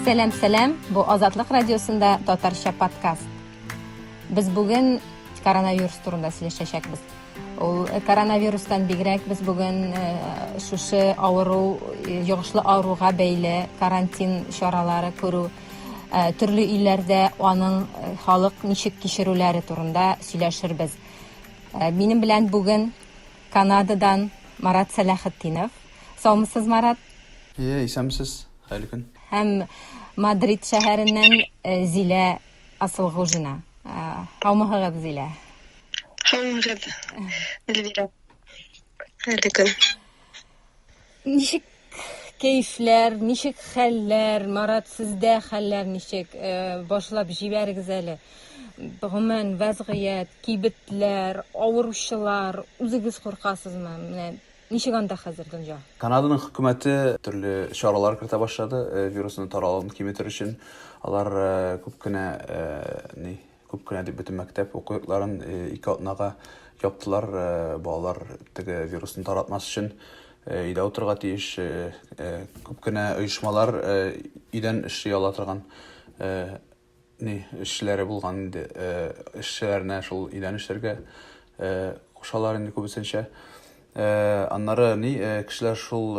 Сәлам, сәлам. Бу Азатлык радиосында татарча подкаст. Без бүген коронавирус турында сөйләшәчәкбез. Ул э, коронавирустан бигрәк без бүген э, шушы авыру, э, йогышлы авыруга бәйле карантин чаралары күрү Ә, төрле илләрдә аның э, халык ничек кичерүләре турында сөйләшербез. Ә, минем белән бүген Канададан Марат Сәләхетдинов. Саумысыз, Марат? Иә, исәмсез, хәйлі күн. Һәм Мадрид шәһәреннән э, Зилә Асылғужина. Ә, Һаумыһыгыз, Зилә. Һаумыгыз, Эльвира. Әле көн. Ничек кәефләр, ничек хәлләр, Марат, сездә хәлләр ничек? Э, башлап җибәрегез әле. Гомумән, вәзгыять, кибетләр, авыручылар, үзегез куркасызмы? Менә ничек анда хәзер дөнья? Канаданың хөкүмәте төрле чаралар кертә башлады, э, вирусның таралуын киметер өчен. Алар э, күп кенә э, ни, Күп кенә дип бөтен мәктәп уку йортларын ике атнага яптылар. Балалар теге вирусны таратмас өчен өйдә утырырга тиеш. Күп кенә оешмалар өйдән эшли ала торган ни эшчеләре булган инде. Эшчеләренә шул өйдән эшләргә кушалар инде күбесенчә. Аннары ни кешеләр шул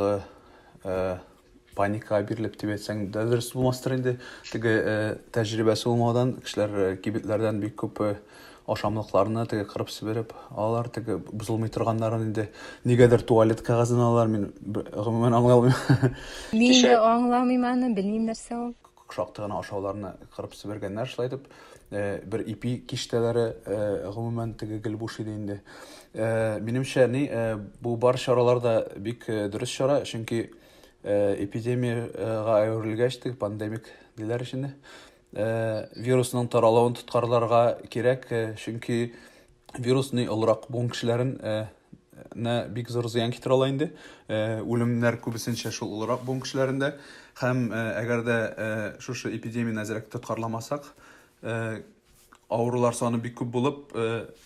Паникага бирелеп дип әйтсәң дә дөрес булмастыр инде. Теге тәҗрибәсе булмаудан кешеләр кибетләрдән бик күп ашамлыкларны теге кырып себереп алар теге бозылмый торганнарын инде нигәдер туалет кәгазен алалар мин гомумән аңлый алмыйм. Мин дә аңламыйм аны, белмим нәрсә ул. Шактый гына ашауларны кырып себергәннәр шулай итеп. Э, бер ипи киштәләре э, гомумән теге гел буш иде инде. Э, минемчә, ни, бу бар чаралар да бик дөрес чара, чөнки эпидемиягә әверелгәч теге пандемик диләр өчен вирусның таралуын тоткарларга кирәк, чөнки вирус ни олырак булган кешеләрен нә бик зур зыян китерә ала инде. Э, үлемнәр күбесенчә шул олырак буын кешеләрендә. Һәм э, әгәр дә э, шушы эпидемияне әзрәк тоткарламасак, авырулар саны бик күп булып,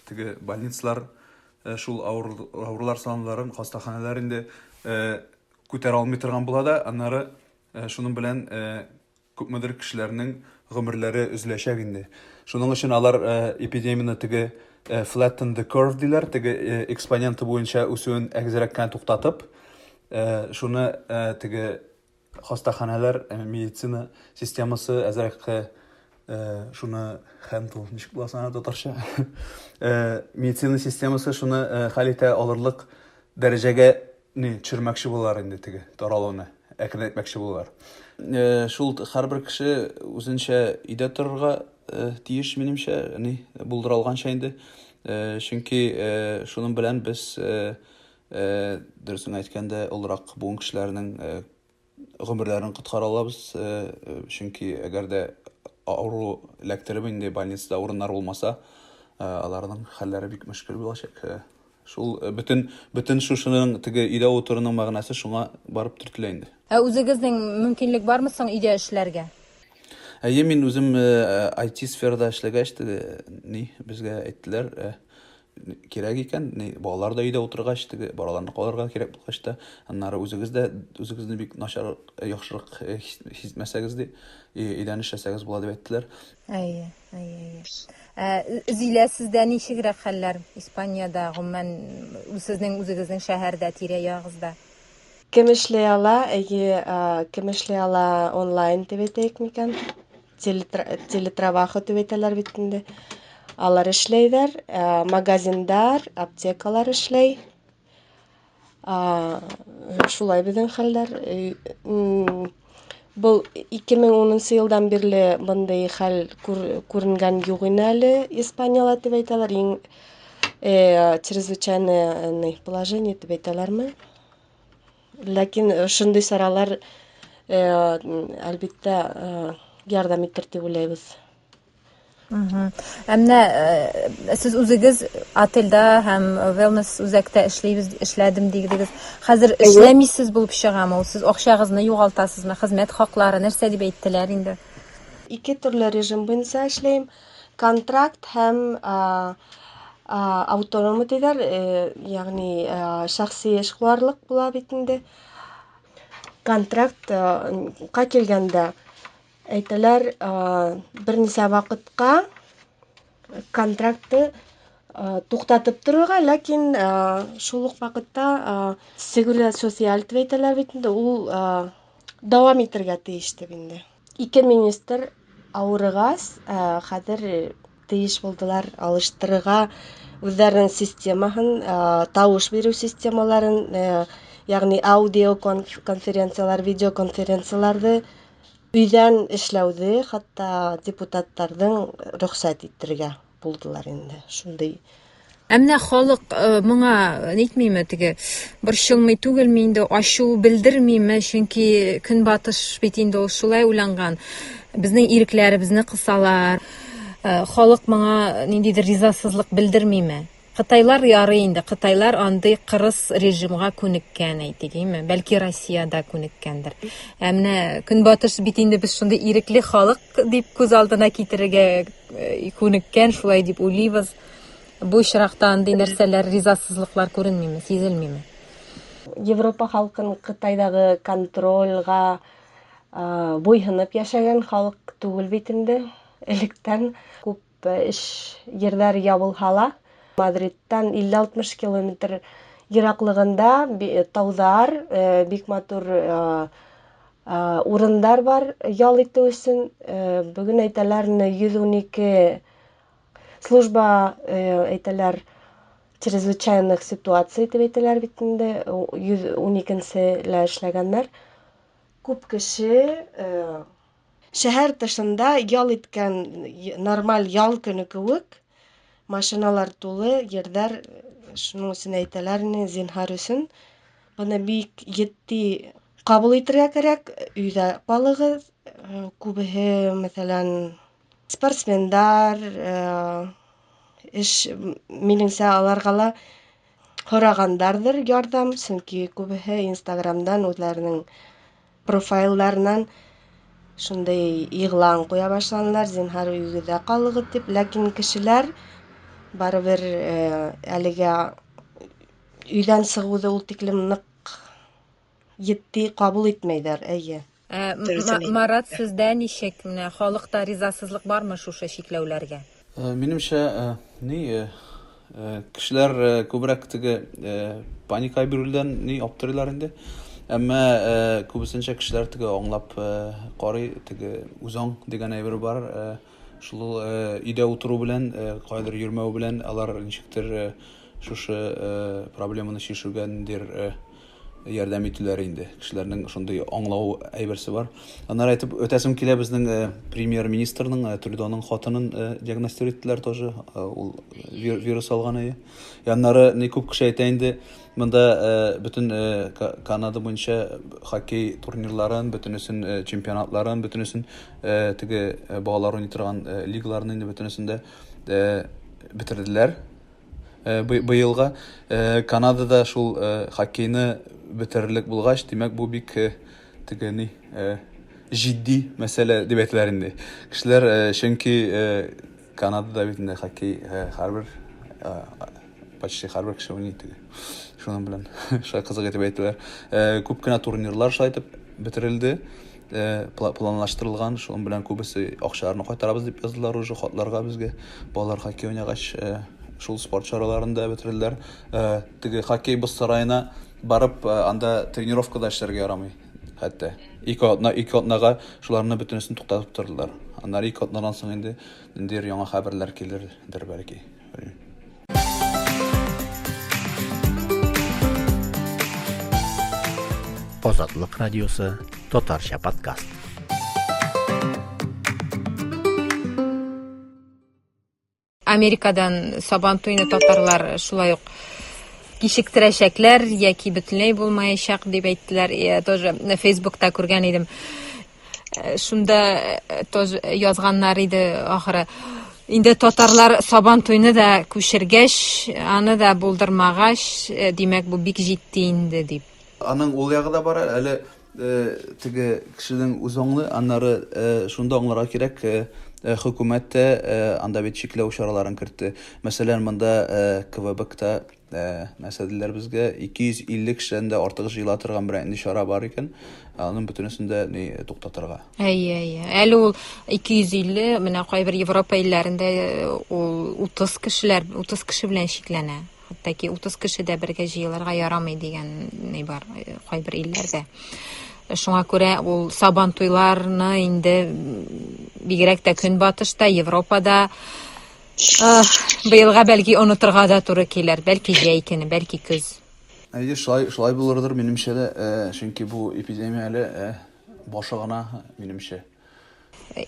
теге больницалар шул авырулар санларын, хастаханәләр инде күтәрә алмый торган була да, аннары шуның белән Күпмедер кешеләрнең гомерләре өзеләчәк инде. Шуның өчен алар эпидемияне теге flatten the curve диләр, теге экспоненты буенча үсүен әгезрәк кенә туктатып, шуны теге хастаханәләр, медицина системасы әзрәк шуны handle, ничек була соң аны татарча? медицина системасы шуны хәл итә алырлык дәрәҗәгә Ни, төшермәкче булалар инде теге таралуны, әкренәйтмәкче булалар. Э, шул һәрбер кеше үзенчә өйдә торырга э, тиеш, минемчә, ни, булдыралганча инде. Э, чөнки э, шуның белән без, э, э, дөресен әйткәндә, олырак буын кешеләренең э, гомерләрен коткара алабыз, чөнки әгәр дә авыру эләктереп инде больницада урыннар булмаса, аларның хәлләре бик мөшкел булачак. Шул бөтен бөтен шушының теге өйдә утыруның мәгънәсе шуңа барып төртелә инде. Ә үзегезнең мөмкинлек бармы соң өйдә эшләргә? Әйе, мин үзем IT сферада эшләгәч, теге ни, безгә әйттеләр, кирәк икән, ни, балалар да өйдә утыргач, теге балаларны калырга кирәк булгач та, аннары үзегез дә үзегезне бик начар, яхшырак хизмәсәгез ди, өйдән эшләсәгез була дип әйттеләр. Әйе, әйе, әйе. Ә Зилә сездә ничегрәк хәлләр Испаниядә, гомумән, сезнең үзегезнең шәһәрдә, тирә-ягыгызда? Кем эшли ала, әйе, кем эшли ала онлайн дип әйтәек микән? Телетраваха дип әйтәләр бит инде. Алар эшләйләр, э, магазиндар, аптекалар эшләй. Шулай безнең хәлләр. Э, Бул 2010 елдан бирле мондый хәл күренгән юк иде әле Испанияле дип әйтәләр. Иң э, чрезвычайное положение дип әйтәләрме? Ләкин шундый чаралар, әлбиттә, ярдәм итер дип уйлыйбыз. Ә менә сез үзегез отельдә һәм wellness үзәктә эшлибез, эшләдем дигдегез. Хәзер эшләмисез булып чыгамы ул? Сез акчагызны югалтасызмы? Хезмәт хаклары нәрсә дип әйттеләр инде? Ике төрле режим буенча эшләйм. Контракт һәм аутономы диләр, ягъни шәхси эшкуарлык була бит инде. Контрактка килгәндә, әйтәләр, берничә вакытка контрактны туктатып торырга, ләкин шул ук вакытта Сегуридад социаль дип әйтәләр бит инде, ул дәвам итәргә тиеш дип инде. Ике министр авырыгас, э, хәзер э, тиеш булдылар алыштырырга үзләренең системаһын, э, тавыш бирү системаларын, э, ягъни аудио конференцияләр, видеоконференцияләрне өйдән эшләүне хәтта депутатларның рөхсәт итәргә. Булдылар инде, шундый. Ә менә халык моңа нитмиме теге борчылмый түгелме инде ачу белдермиме, чөнки көнбатыш бит инде ул шулай уйланган. Безнең ирекләребезне кысалар. Халык моңа ниндидер ризасызлык белдермиме? Кытайлар ярый инде, кытайлар андый кырыс режимга күнеккән, әйтегеме, бәлки Россиядә күнеккәндер. Ә менә Көнбатыш бит инде без шундый ирекле халык дип күз алдына китерергә э, күнеккән, шулай дип уйлыйбыз. Бу очракта андый нәрсәләр, ризасызлыклар күренмиме, сизелмиме? Европа халкын Кытайдагы контрольга буйһынып яшәгән халык түгел бит инде. Электән күп Эш җирләре ябылһа ла, Мадридтан 50-60 километр ераклыгында таудар, бик матур урыннар бар ял итү өчен. Бүген әйтәләр, 112 служба, әйтәләр, чрезвычайных ситуаций дип әйтәләр бит инде, 112 нче лә эшләгәннәр. Күп кеше. Шәһәр тышында ял иткән нормаль ял көне кеүек, машиналар тулы, йердәр шуның өчен әйтәләрме, зинһар өчен, моны бик етди кабул итергә кирәк, өйдә калыгыз. Күбеһе, мәсәлән, спортсмендар, эш, минемчә, аларга ла Сораганнардыр ярдәм, чөнки күбесе инстаграмдан үзләренең профайльләреннән шундый игълан куя башлаганнар, зинһар өегездә калыгыз дип, ләкин кешеләр барыбер әлегә өйдән чыгуды ул тиклем нык Етди кабул итмәйләр, әйе. Ә Марат сездә ничек? Менә халыкта ризасызлык бармы шушы чикләүләргә? Минемчә, ни, кешеләр күбрәк теге паника бирүдән ни аптырыйлар инде. Әмма күбесенчә кешеләр теге аңлап карый, теге үзаң дигән әйбер бар. Шул өйдә утыру белән, кайдыр йөрмәү белән алар ничектер шушы проблеманы чишүгә ниндидер ярдәм итүләре инде. Кешеләрнең шундый аңлау әйберсе бар. Аннары әйтеп үтәсем килә безнең э, премьер-министрның э, Трюдоның хатынын э, диагностир иттеләр тоже. Ул вирус алган иде. Яннары ни күп кеше әйтә инде, монда бөтен Канада буенча хоккей турнирларын, бөтенесен чемпионатларын, бөтенесен теге балалар уйный торган лигаларны инде бөтенесен дә бетерделәр. Быелга Канадада шул хоккейны бетерерлек булгач, димәк, бу бик теге ни җитди мәсьәлә дип әйтеләр инде. Кешеләр чөнки Канадада бит инде хоккей һәрбер почти һәрбер кеше уйный теге. Шуның белән шулай кызык итеп әйтәләр. Күп кенә турнирлар шулай итеп бетерелде. планлаштырылган, шуның белән күбесе акчаларны кайтарабыз дип яздылар уже хатларга безгә. Балалар хоккей уйнагач, шул спорт чараларында бетерделәр. Теге хоккей боз сараена барып, анда тренировкада эшләргә ярамый хәтта. Ике атна, ике атнага шуларны бөтенесен туктатып тордылар. Аннары ике атнадан соң инде ниндидер яңа хәбәрләр килердер бәлки. Азатлык радиосы, татарча подкаст. Америкадан сабан туйны татарлар шулай ук кичектерәчәкләр яки бөтенләй булмаячак дип әйттеләр. Я тоже Фейсбукта күргән идем. Э, шунда э, тоже язганнар иде ахыры инде татарлар сабан туйны да күчергәч аны да булдырмагач э, димәк бу бик җитди инде дип аның ул ягы да бар әле теге кешенең үз аңлы аннары шунда аңларга кирәк хөкүмәт тә анда бит чикләү чараларын кертте мәсәлән монда квбкта Ә, мәсәделәр безгә 250 кешедән дә артык җыела торган берәр инде чара бар икән, ә, аның бөтенесен дә ни туктатырга. Әйе, әйе. Әле ул 250, менә кайбер Европа илләрендә э, ул 30 кешеләр, 30 кеше белән чикләнә. Хәтта ки 30 кеше дә бергә җыелырга ярамый дигән ни бар э, кайбер илләрдә. Шуңа күрә ул сабан туйларны инде м, бигрәк тә көнбатышта, Европада Быелга бәлки онытырга да туры килер, бәлки җәй көне, бәлки көз. Әйе, шулай, шулай булырдыр, минемчә дә, чөнки бу эпидемия әле башы гына, минемчә.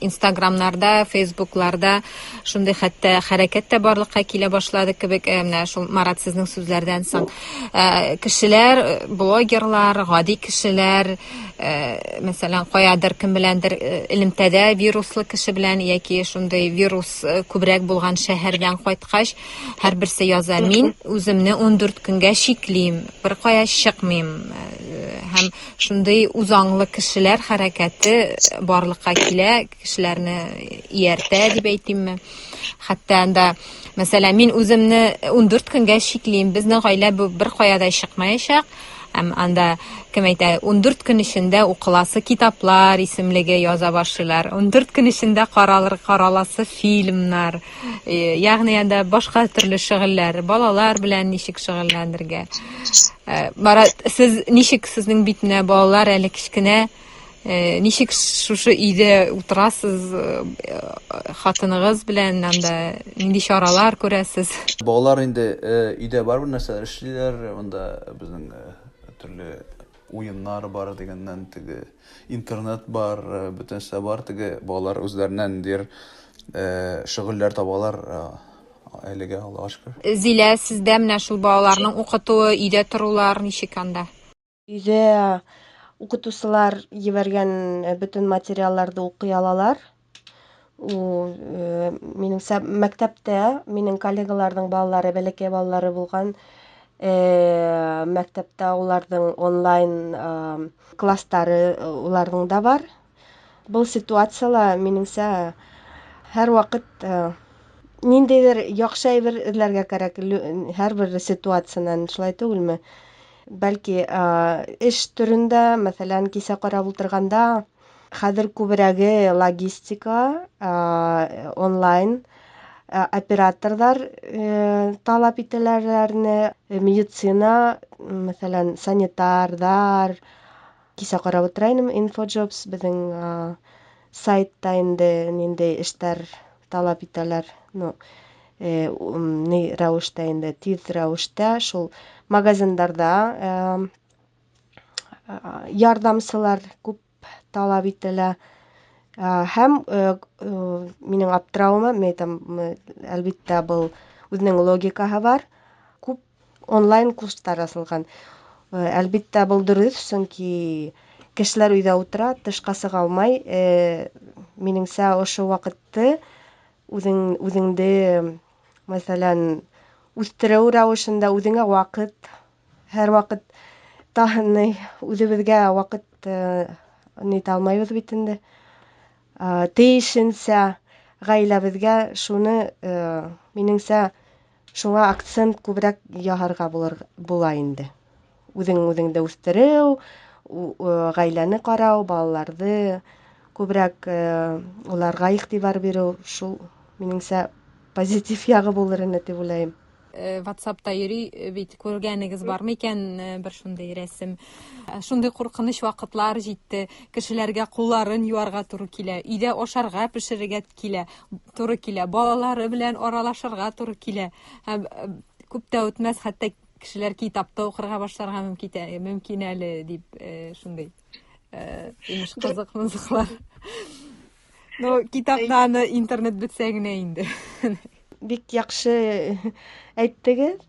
Инстаграмнарда, фейсбукларда шундый хәтта хәрәкәт тә барлыкка килә башлады кебек, э, менә шул Марат сезнең сүзләрдән соң. Э, кешеләр, э, блогерлар, гади кешеләр, мәсәлән, каядыр кем беләндер элемтәдә вируслы кеше белән яки шундый вирус э, күбрәк булган шәһәрдән кайткач, һәрберсе яза, мин үземне 14 көнгә чиклим, бер кая чыкмыйм. Э, һәм шундый узаңлы кешеләр хәрәкәте барлыкка килә, кешеләрне ияртә дип әйтимме. Хәтта анда, мәсәлән, мин үземне 14 көнгә чиклим, безнең гаилә бер кая да чыкмаячак, Һәм анда, кем әйтә, ундүрт көн эчендә укыласы китаплар исемлеге яза башлыйлар, ундүрт көн эчендә каралыр, караласы фильмнар, э, ягъни анда башка төрле шөгыльләр, балалар белән ничек шөгыльләнергә. Э, Марат, сез ничек сезнең битенә балалар әле кечкенә, Э, ничек шушы өйдә утырасыз э, хатыныгыз белән анда нинди чаралар күрәсез балалар инде э, өйдә барыбер нәрсәләр эшлиләр монда безнең төрле уеннар бар дигәннән теге интернет бар бөтен нәрсә бар теге балалар үзләреннән дир шөгыльләр табалар әлегә аллага шөкер зилә сездә менә шул балаларның укытуы өйдә торулар ничек анда Өйдә укытучылар җибәргән бөтен материалларды укый алалар. Ул, минемчә, мәктәптә минем коллегаларның балалары, бәләкәй балалары булган, мәктәптә уларның онлайн класслары уларның да бар. Бу ситуацияла, минеңчә, һәрвакыт ниндидер яхшы әйбер эзләргә кирәк, һәрбер ситуацияннән, шулай түгелме? Бәлки, эш төрендә, мәсәлән, кисә карап утырганда, хәзер күбрәге логистика, онлайн операторлар талап ителәләрне, медицина, мәсәлән, санитарлар, Кичә карап утыра идем Infojobs безнең сайтта инде нинди эшләр таләп итәләр. Ну, ни рәвештә инде тиз рәвештә шул магазиннарда ярдәмчеләр күп таләп ителә. Һәм минем аптыравыма, мен там әлбиттә был үзенең логикаһы бар. онлайн курслар асылган. Әлбиттә, бул дөрес, чөнки кешеләр өйдә утыра, тышка сыга алмай. Минеңчә, ошо вакытты үзең үзеңде, мәсәлән, үстерү рәвешендә үзеңә вакыт, һәрвакыт та ни үзебезгә вакыт ни итә алмыйбыз бит инде. Тиешенчә гаиләбезгә шуны, минеңчә, Шуңа акцент күбрәк яһарга булыр була инде. Үзең үзеңде үстерү, гаиләне карау, балаларды күбрәк уларга игътибар бирү, шул, минемчә, позитив ягы булыр ине дип уйлыйм. Ватсапта йөри бит, күргәнегез бармы икән бер шундый рәсем? Шундый куркыныч вакытлар җитте, кешеләргә кулларын юарга туры килә, өйдә ашарга пешерергә килә, туры килә. Балалары белән аралашырга туры килә. Һәм э, күп тә үтмәс, хәтта кешеләр китапта укырга башларга мөмкин, э, мөмкин әле дип э, шундый имеш кызык мызыклар. Ну, китапта аны интернет бетсә генә инде. Бик яхшы әйттегез.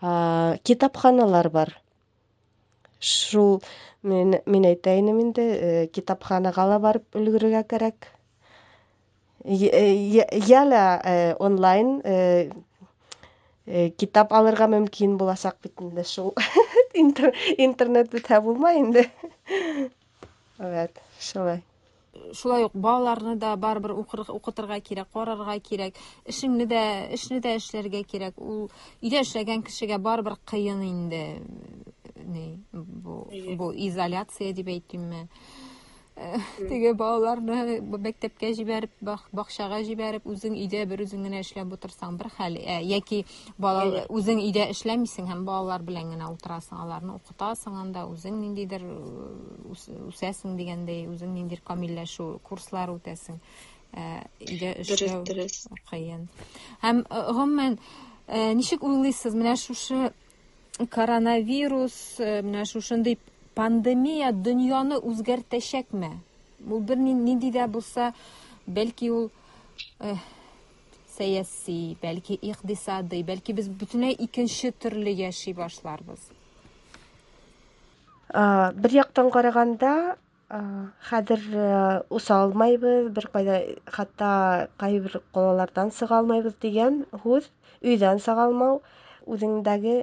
китапханалар бар шул мин, мин әйтәйен инде э, китапханага ла барып өлгерергә кирәк яля э, э, онлайн китап алырга мөмкин булачак бит инде шул интернет бетә булмай инде Evet, шулай. Шулай ук балаларны да барыбер укытырга кирәк, карарга кирәк, эшеңне дә, эшне дә эшләргә кирәк. Ул өйдә эшләгән кешегә барыбер кыен инде. Ни, бу, бу изоляция дип әйтимме? Теге балаларны мәктәпкә җибәреп, бакчага җибәреп, үзең өйдә бер үзең генә эшләп утырсаң бер хәл, яки Бала Әйе. үзең өйдә эшләмисең һәм балалар белән генә утырасың, аларны укытасың анда, үзең ниндидер э, үс- үсәсең дигәндәй, үзең ниндидер камилләшү курслар үтәсең. Ә, Өйдә Дөрес, эшләү дөрес. кыен. Һәм э, гомумән э, ничек уйлыйсыз, менә шушы коронавирус, э, менә шушындый пандемия дөньяны үзгәртәчәкме? Ул бер ни- нинди дә булса, бәлки ул э, сәяси, бәлки икъдисадый, бәлки без бөтенләй икенче төрле яши башларбыз. Бер яктан караганда, хәзер үсә алмайбыз, бер кайда хәтта кайбер калалардан сыга алмайбыз дигән һүз, өйдән сыга алмау, үзеңдәге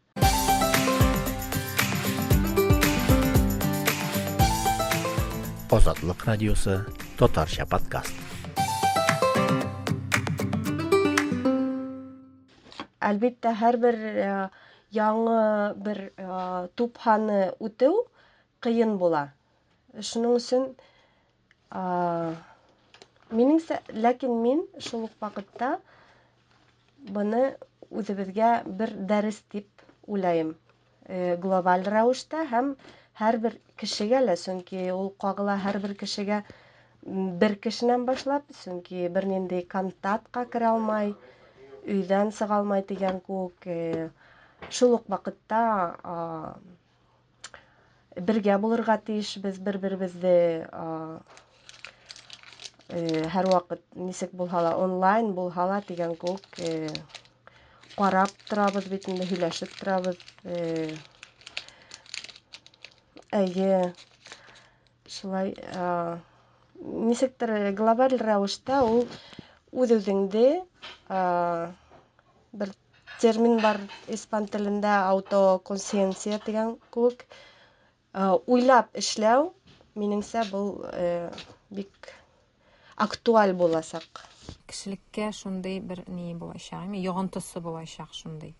Азатлык радиосы, татарча подкаст. Әлбәттә, һәрбер э, яңы бер э, тупһаны үтү кыен була. Шуның өчен Минеңсә, ләкин мин шул ук вакытта моны үзебезгә бер дәрес дип уйлаем. Э, глобаль рәвештә һәм һәрбер кешегә лә, чөнки ул кагыла һәрбер кешегә бер кешенән башлап, чөнки бернинди контактка керә алмай, өйдән чыга алмай дигән күк. Э, шул ук вакытта бергә булырга тиешбез бер-беребезне һәрвакыт ничек булһа да онлайн булһа да дигән күк карап торабыз бит инде һөйләшеп торабыз әйе шулай ничектер глобаль рәвештә ул үз-үзеңне бер Термин бар испан телендә аутоконсиенция дигән күк. Э, уйлап эшләү, минеңсә, бу э, бик актуаль буласак. Кешелеккә шундый бер ни булачак, ме йогынтысы булачак шундый.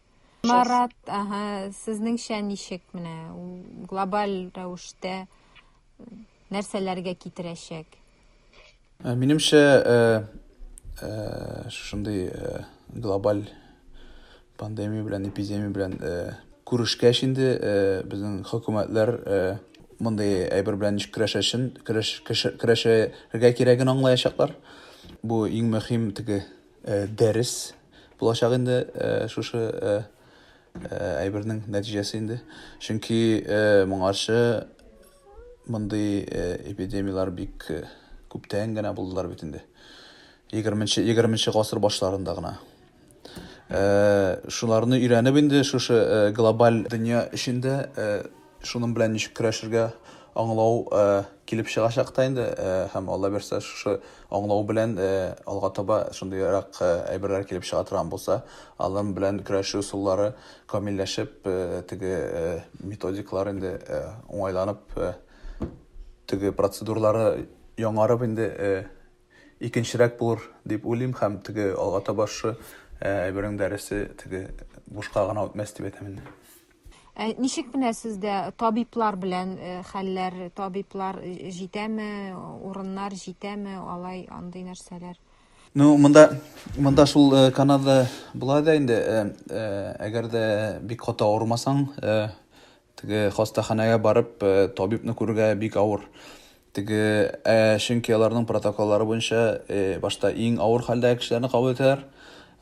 Марат, ага, сезнеңчә ничек менә глобаль рәвештә нәрсәләргә китерәчәк? Ә, Минемчә, ә, ә, шушындый ә, глобаль пандемия белән, эпидемия белән ә, күрешкәч инде ә, безнең хөкүмәтләр ә, мондый әйбер белән ничек көрәшәчен, көрәш, кеше- көрәшергә кирәген аңлаячаклар. Бу иң мөһим теге ә, дәрес булачак инде ә, шушы ә, әйбернең нәтиҗәсе инде. Чөнки моңарчы мондый эпидемияләр бик күптән генә булдылар бит инде. 20 20 гасыр башларында гына. Шуларны өйрәнеп инде шушы глобаль дөнья эчендә Шуның белән ничек көрәшергә аңлау килеп чыгачак та инде, һәм Алла бирсә, шушы аңлау белән алга таба шундыйрак әйберләр килеп чыга торган булса, алар белән көрәшү ысуллары камилләшеп, теге методикалар инде уңайланып, теге процедуралары яңарып инде икенчерәк булыр дип уйлыйм һәм теге алга таба шушы әйбернең дәресе теге бушка гына үтмәс дип әйтәм инде. Ә ничек менә сездә табиблар белән э, хәлләр, табиблар э, җитәме, урыннар җитәме, алай андый нәрсәләр? Ну, монда монда шул э, Канада була да инде, әгәр дә бик каты авырмасаң, теге хастаханәгә барып, табибны күрергә бик авыр. Теге чөнки аларның протоколлары буенча башта иң авыр хәлдәге кешеләрне кабул итәләр.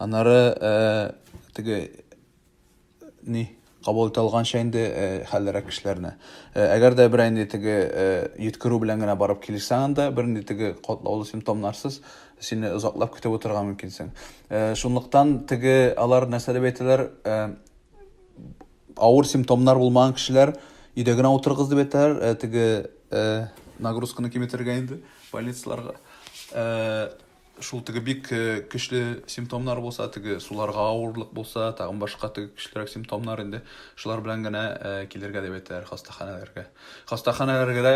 Аннары теге ни, кабул итә алганча инде хәллерәк кешеләрне. Әгәр дә берәр инде теге йөткерү белән генә барып килсәң анда, бер инде теге катлаулы симптомнарсыз сине озаклап көтеп утырырга мөмкинсең. Шунлыктан теге алар нәрсә дип әйтәләр, авыр симптомнар булмаган кешеләр өйдә генә утырыгыз дип әйтәләр, теге нагрузканы киметергә инде больницаларга. Шул теге бик көчле симптомнар булса, теге суларга авырлык булса, тагын башка теге көчлерәк симптомнар инде шулар белән генә килергә дип әйтәләр хастаханәләргә. Хастаханәләргә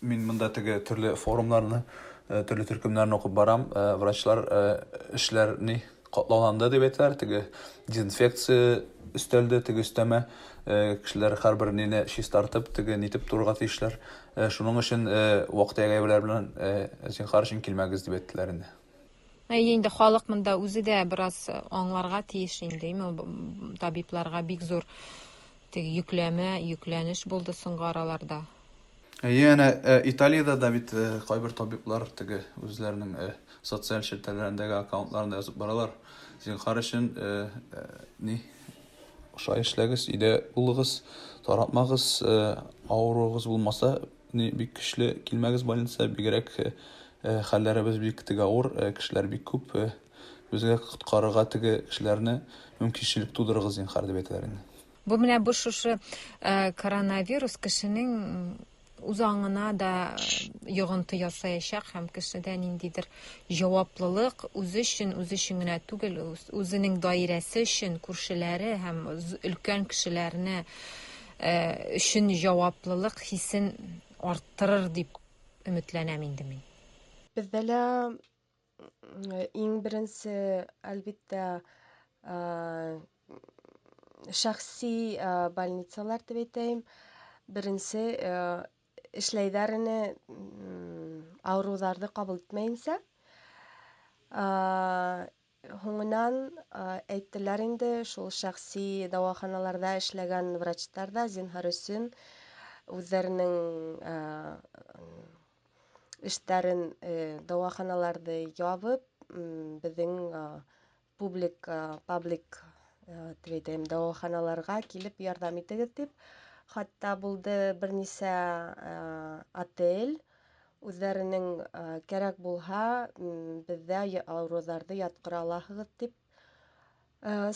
мин монда теге төрле форумнарны, төрле төркемнәрне укып барам, врачлар эшләрни Катлауланды дип әйтәләр, теге дезинфекция өстәлде, теге өстәмә. Кешеләр һәрбер нине чистартып, теге нитеп торырга тиешләр. Шуның өчен вак-төяк-әйберләр белән, зинһар өчен, килмәгез дип әйттеләр инде. Әйе инде, халык монда үзе дә бераз аңларга тиеш инде, табибларга бик зур теге йөкләмә, йөкләнеш булды соңгы араларда. Әйе, әнә э, Италиядә дә бит э, кайбер табиблар теге үзләренең э, социаль челтәрләрендәге аккаунтларында язып баралар. Зинхар өчен ни шулай эшләгез, өйдә булыгыз, таратмагыз, авыруыгыз булмаса, ни бик көчле килмәгез больница, бигрәк хәлләребез бик теге авыр, кешеләр бик күп, безгә коткарырга теге кешеләрне мөмкинчелек тудырыгыз, зинхар дип әйтәләр инде. Бу менә бу шушы э, коронавирус кешенең үз аңына да йогынты ясаячак һәм кешедә ниндидер җаваплылык үзе өчен үзе өчен генә түгел үзенең даирәсе өчен күршеләре һәм өлкән кешеләрне э, өчен җаваплылык хисен арттырыр дип өметләнәм инде мин. Бездә лә Иң беренче, әлбиттә, шәхси больницалар дип әйтәйм. Беренче эшләйләр ине авыруларны кабул итмәенчә. Һуңынан әйттеләр инде, шул шәхси дәваханаларда эшләгән врачлар да, зинһар өчен, үзләренең эшләрен дәваханаларны ябып, безнең публик, паблик тредем дәваханаларга килеп ярдәм итегез дип. Хатта булды берничә отель үзләренең кәрәк булһа, бездә авыруларны яткыра аласыгыз дип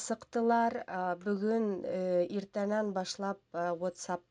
сыктылар. Бүген иртәннән башлап WhatsApp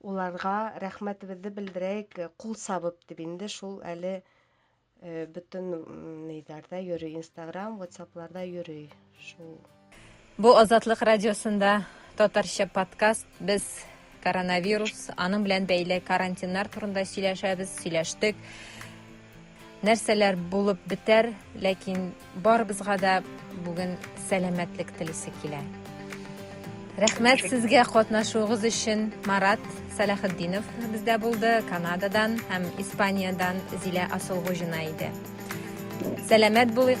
Уларга рәхмәтебезне белдерәек, кул сабып дип инде шул әле бөтен нидәрдә йөри, Инстаграм, Ватсапларда йөри. Шул. Бу Азатлык радиосында татарча подкаст. Без коронавирус, аның белән бәйле карантиннар турында сөйләшәбез, сөйләштек. Нәрсәләр булып бетәр, ләкин барыбызга да бүген сәламәтлек телисе килә. Рәхмәт сезгә катнашуыгыз өчен. Марат Салахетдинов бездә булды, Канададан һәм Испаниядән Зилә Асылгужина иде. Сәламәт булыйк.